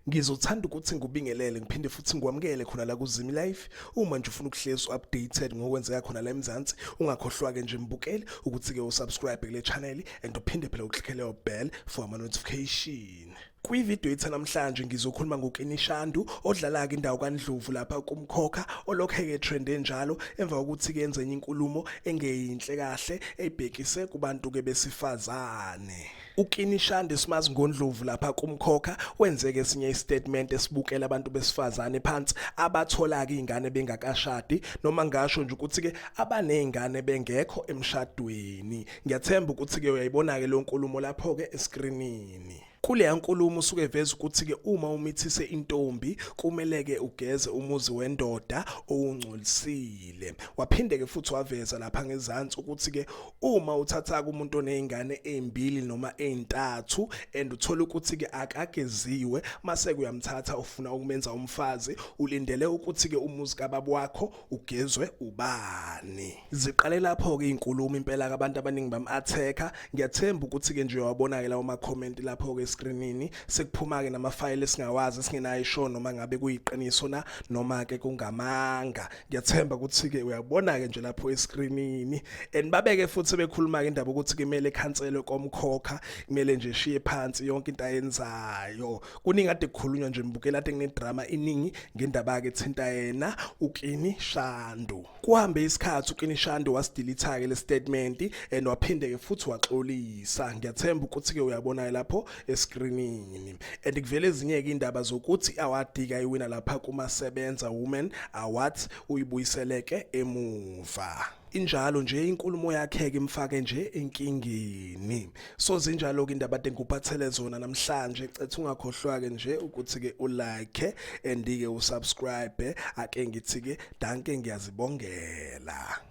Ngizothanda ukuthi ngikubingelele ngiphinde futhi ngikwamukele khona la kuZimi Life. Uma nje ufuna ukuhlezi updated ngokwenzeka khona la eMzansi, ungakhohlwa ke nje mbukeli ukuthi ke usubscribe kule channel and uphinde phela uklickele ubell for ama notification. Kwividiyo etha namhlanje ngizokhuluma ngoKini Shandu odlala-ke indawo kaNdlovu lapha kumkhokha olokhe-ke trende njalo emva kokuthi kenze enye inkulumo engeyinhle kahle ebhekise kubantu-ke besifazane. UKini Shandu simazi ngoNdlovu lapha kumkhokha wenzeke esinye istatement esibukela abantu besifazane phansi abathola-ke iy'ngane bengakashadi noma ngasho nje ukuthi-ke abaney'ngane bengekho emshadweni. Ngiyathemba ukuthi-ke uyayibona-ke leyo nkulumo lapho-ke eskrinini. Kuleya nkulumo usuke eveza ukuthi-ke uma umithise intombi kumele-ke ugeze umuzi wendoda owungcolisile. Waphinde-ke futhi waveza lapha ngezansi ukuthi-ke uma uthatha-ke umuntu oney'ngane ey'mbili noma ey'ntathu and uthole ukuthi-ke akageziwe mase-ke uyamthatha ufuna ukumenza umfazi ulindele ukuthi-ke umuzi kababa wakho ugezwe ubani ziqale lapho ke inkulumo impela kabantu abaningi bam attacker ngiyathemba ukuthi ke nje wabona ke lawo ma comment lapho ke screenini sekuphuma ke nama file singawazi singenayo show noma ngabe kuyiqiniso na noma ke kungamanga ngiyathemba ukuthi ke uyabona ke nje lapho escreenini and babeke futhi bekhuluma ke indaba ukuthi kumele khanselwe komkhokha kumele nje shiye phansi yonke into ayenzayo kuningi ade kukhulunywa nje mbukela ade ngedrama iningi ngendaba yake thinta yena ukini Shandu kuhambe isikhathi ukini Shandu wasidilitha ke le statement and waphinde ke futhi waxolisa ngiyathemba ukuthi ke uyabona lapho escreenini and kuvele ezinye ke indaba zokuthi awadika iwina lapha kuma sebenza women awards uyibuyiseleke emuva injalo nje inkulumo yakhe ke imfake nje enkingeni so zinjalo ke indaba tengupathele zona namhlanje cethu ungakhohlwa ke nje ukuthi ke ulike and ke usubscribe ake ngithi ke danke ngiyazibongela